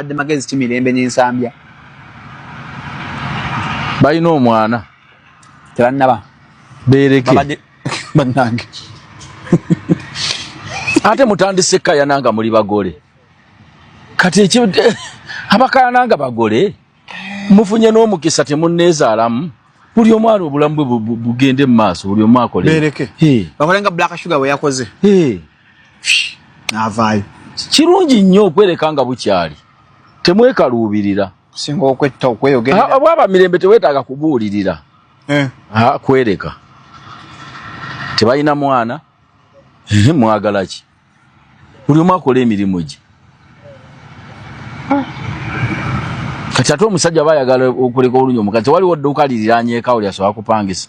abadde magezi ki mirembe ne nsambya balina omwana tebannaba bereke bannange ate mutandise kayana nga muli bagole kati ekyo abakayana nga bagole mufunye n'omukisa temunneezaalamu buli omu ali obulamu bwe bugende mu maaso buli omu akole bereke bakole nga black sugar bwe yakoze n'avaayo kirungi nnyo okwereka nga bukyali temwekaluubirira singa okwetta okweyogerera ah, bwaba mirembe teweetaaga kubuulirira eh. ah, kwereka tebalina mwana eh, mwagala ki buli omu akola emirimu gye kati ate omusajja aba ayagala okuleka olunyo omukazi tewaliwo dduuka liriranyekawo lyasobola kupangisa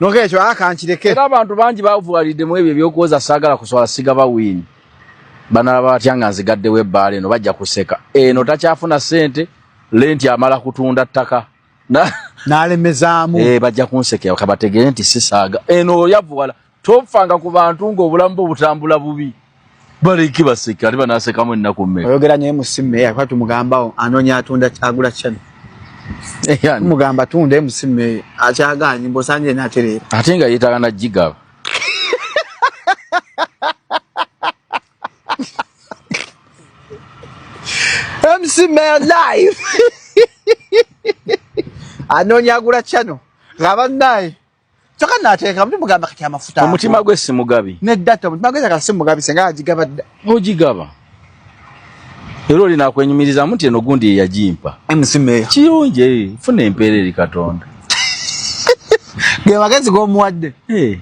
Nokekyo akankireke. Era abantu bangi bavuwalidde mu ebyo ebyokuwoza saagala kuswala sigaba wiini. Banalaba batya nga nzigaddewo ebbaala eno bajja kuseka. Eno takyafuna ssente lenti amala kutunda ttaka. N'alemezaamu. Eh, bajja kunsekera kabategeere nti sisaaga. Eno oyavuwala tofanga ku bantu ng'obulamu bwo butambula bubi. baliki baseka ate banasekamu ennaku mmeka oyogera nyo mc meya kuba tumugambawo anoonya atunda agula channel mugamba tunde musime akyaganye mbosanje naterera ate nga yetaga na jigaba musime live anonya agula chano ngaba naye kyoka nateeka mbi mugamba kati amafuta omutima gwe simugabi ne data omutima gwe kati simugabi senga ajigaba dda mujigaba ero lina kwenyumiriza muti eno gundi ya jimpa msime chiyunje fune mpere li katonda ge wakazi go muadde eh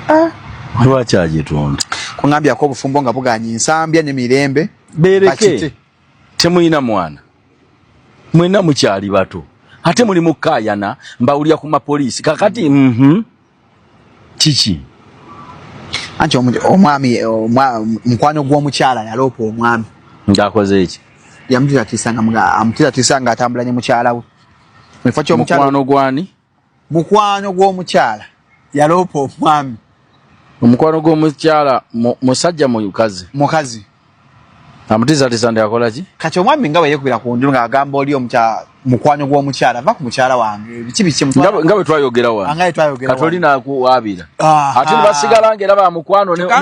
ah lwachaje tonda kungambia ko bufumbo nga buganye nsambya ne mirembe bereke Temulina mwana mwena mukyali bato ate muli mukayana mbawulira ku mapoliisi kakati mm -hmm. kiki anti omwami mukwano gw'omukyala yaloopa omwami ng'akoze eki yamutitatisa nga amutitatisa nga atambula ne mukyala we mukwano gwani mukwano gw'omukyala yaloopa omwami omukwano gw'omukyala musajja mukazi mukazi amutizatiza ndi akola ki kati omwami nga bweyekubira ku nju ng'agamba oli mukwano gw'omukyala va ku mukyala wange biki biki nga bwe twayogera wano kati oli nakuwaabira ah, ate ah. nebasigala nga era ba mukwano